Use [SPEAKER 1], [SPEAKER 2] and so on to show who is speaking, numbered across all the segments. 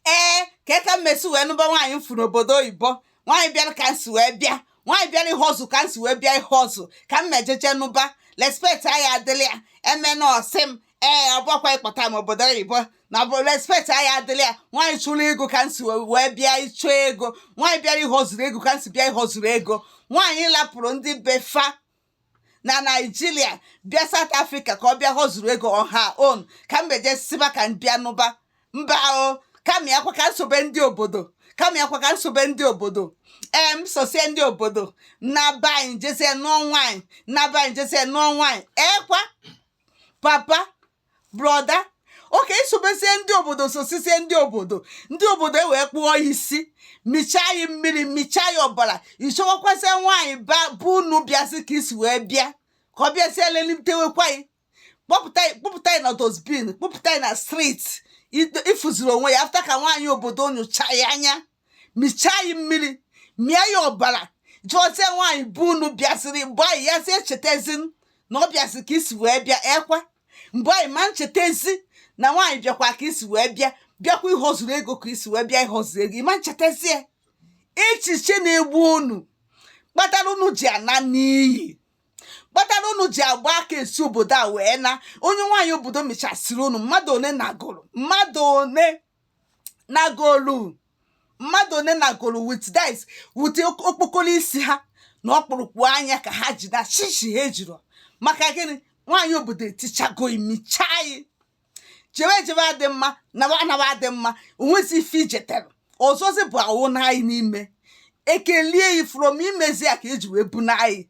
[SPEAKER 1] ee kee ka m esi wee nụba nwaanyị m fụ n'obodo oyibo nwaanyị bịara ka nsi wee bịa nwaanyị bịara ịhọzụ ka nsi wee bịa ịhọzụ ka m mejeje nụba respect anyị adịla ya eme na ọsị m ee ọ bụkwa ịkpọta m obodo oyibo na bụ respect anyị adịla ya nwaanyị chụrụ ego ka nsi wee bịa ịchụ ego nwaanyị bịara ịhọzuru ego ka nsi bịa ịhọzuru ego nwaanyị lapụrụ ndị befa na naijiria bịa south africa ka ọ bịa họzuru ego on her own ka m beje siba ka m bịa nụba mba o kama ya kwa ka nsobe ndị obodo kama ya kwa ka nsobe ndị obodo m sosie ndị obodo na be anyị jezie nụọ nwaanyị na be anyị jezie nụọ nwaanyị ekwa papa brother okay isobezie ndị obodo sosizie ndị obodo ndị obodo ewee kpụọ yi isi michaa yi mmiri michaa yi ọbara ịchọwakwazie nwaanyị be unu bịazi ka isi wee bịa ka ọ bịazie lelitewekwa yi kpọpụta yi kpọpụta yi na dustbin kpọpụta yi na street ifuziri onwe yi after ka nwaanyị obodo nyụchaa yi anya michaa yi mmiri mịa yi ọbara jụọzie nwaanyị be unu bịaziri mgbe a ị ya zie chetezi na ọ bịaziri ka isi wee bịa ekwa mgbe a ị ma nchetezi na nwaanyị bịakwa ka isi wee bịa bịakwa ịhọzuru ego ka isi wee bịa ịhọzuru ego ịma nchetazie echiche na-egbu unu kpatara unu ji ana n'iyi kpatara unu ji agba aka esi obodo a wee na onye nwaanyị obodo michasịrị unu mmadụ one nagolu mmadụ one nagolu mmadụ one nagolu with that is with ok- okpokoro isi ha na ọkpụrụkpụ anya ka ha ji na shishi ha ejiro maka gịnị nwaanyị obodo etichago yi michaa yi jewe jewe adị mma nawa anawa adị mma onwezi ife ijetere ọzọzi bụ awụ n'anyị n'ime ekelie yi from imezi ya ka eji wee bunaa yi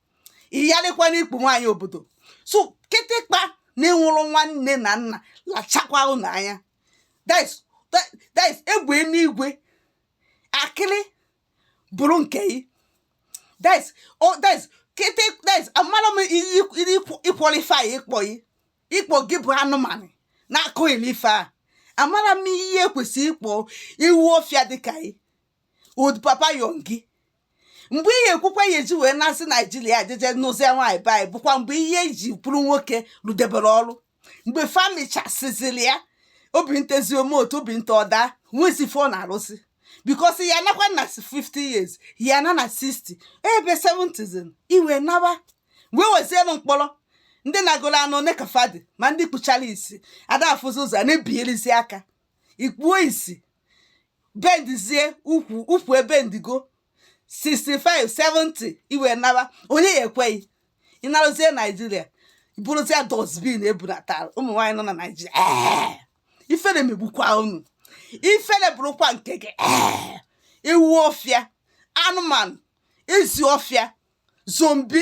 [SPEAKER 1] iyarịkwa n'ikpu nwaanyị obodo so kịtịkpa na-enwerọ nwanne na nna lachakwa ụnụ anya that is egbe enigwe akịrị bụrụ nke yi that is kịtị that is amarọ m ịqualify yi ịkpọ yi ịkpọ gị bụ anụmanụ na-aqualify amarọ m ihe ekwesị ịkpọ yi ewu ọfịa dịka yi old papa youngy mgbe ihe ekwukwa ya eji wee na-asị naijiria jeje nụzie nwaanyị be anyị bụkwa mgbe ihe iji bụrụ nwoke rụdebere ọrụ mgbe fa michasiziri yi obi ntezi ome otu obi nta ọda nwezi ife ọ na-arụsị because ya nakwa na 50 years ya na na 60 ebe 70 i wee nawa wee wezienụ mkpọrọ ndị nagolu ana one ka fa dị ma ndị kpuchara isi ada afụzi ụzọ na-ebigharịzi aka ikpuo isi bendizie ukwu ukwu ebendigo 65 70 ị wee naba onye ya ekweghị ị naruzie naijiria bụrụzie dustbin e bunatara ụmụ nwaanyị nọ na naijiria ee ifere megbukwa unu ifere bụrụkwa nke gị ee ewu ọfịa anụmanụ ezi ọfịa zombi